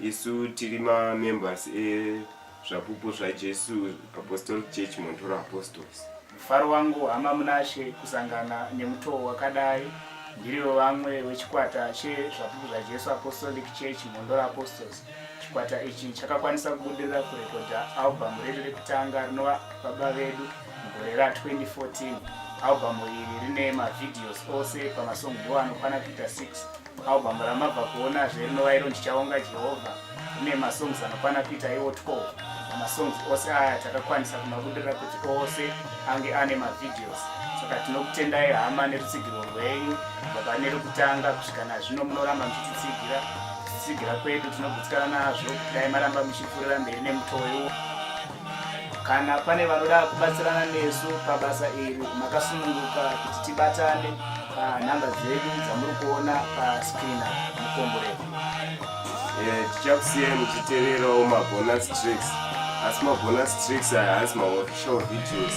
Isu tiri mamembers ezvapupu zvaJesu Apostolic Church Montoro Apostles. Mufaro wangu hama Munashe kusangana nemutoo wakadai. Ndirivo vamwe wechikwata chezvapupu zvaJesu Apostolic Church Montoro Apostles. Chikwata ichi chakakwanisa kubudirira kurekodha albhamu redu rekutanga rinova Baba Vedu mugore ra 2014. Albhamu iri rine mavhidhiyosi ose pamasongi iwo anokwana kuita 6. Album ramabva kuona zve rinova iro ndichaonga Jehovha rine masongs anokwana kuita iwo 12 namasongs ose aya takakwanisa kumabudirira kuti ose ange ane mavideos saka tinokutendai hama nerutsigiro rwenyu kubva pane rekutanga kusvika nazvino munoramba muchititsigira kutsigira kwedu tinogutsikana nazvo kudai maramba muchipfuurira mberi nemutoo iwo Kana pane vanoda kubatsirana nesu pabasa iri, makasununguka kuti tibatane panhamba dzedu dzamuri kuona paskrin mukomboreko. Eh, tichakusiyai muchiteverawo mabonus tricks asi mabonus tricks aya haasi maofficial videos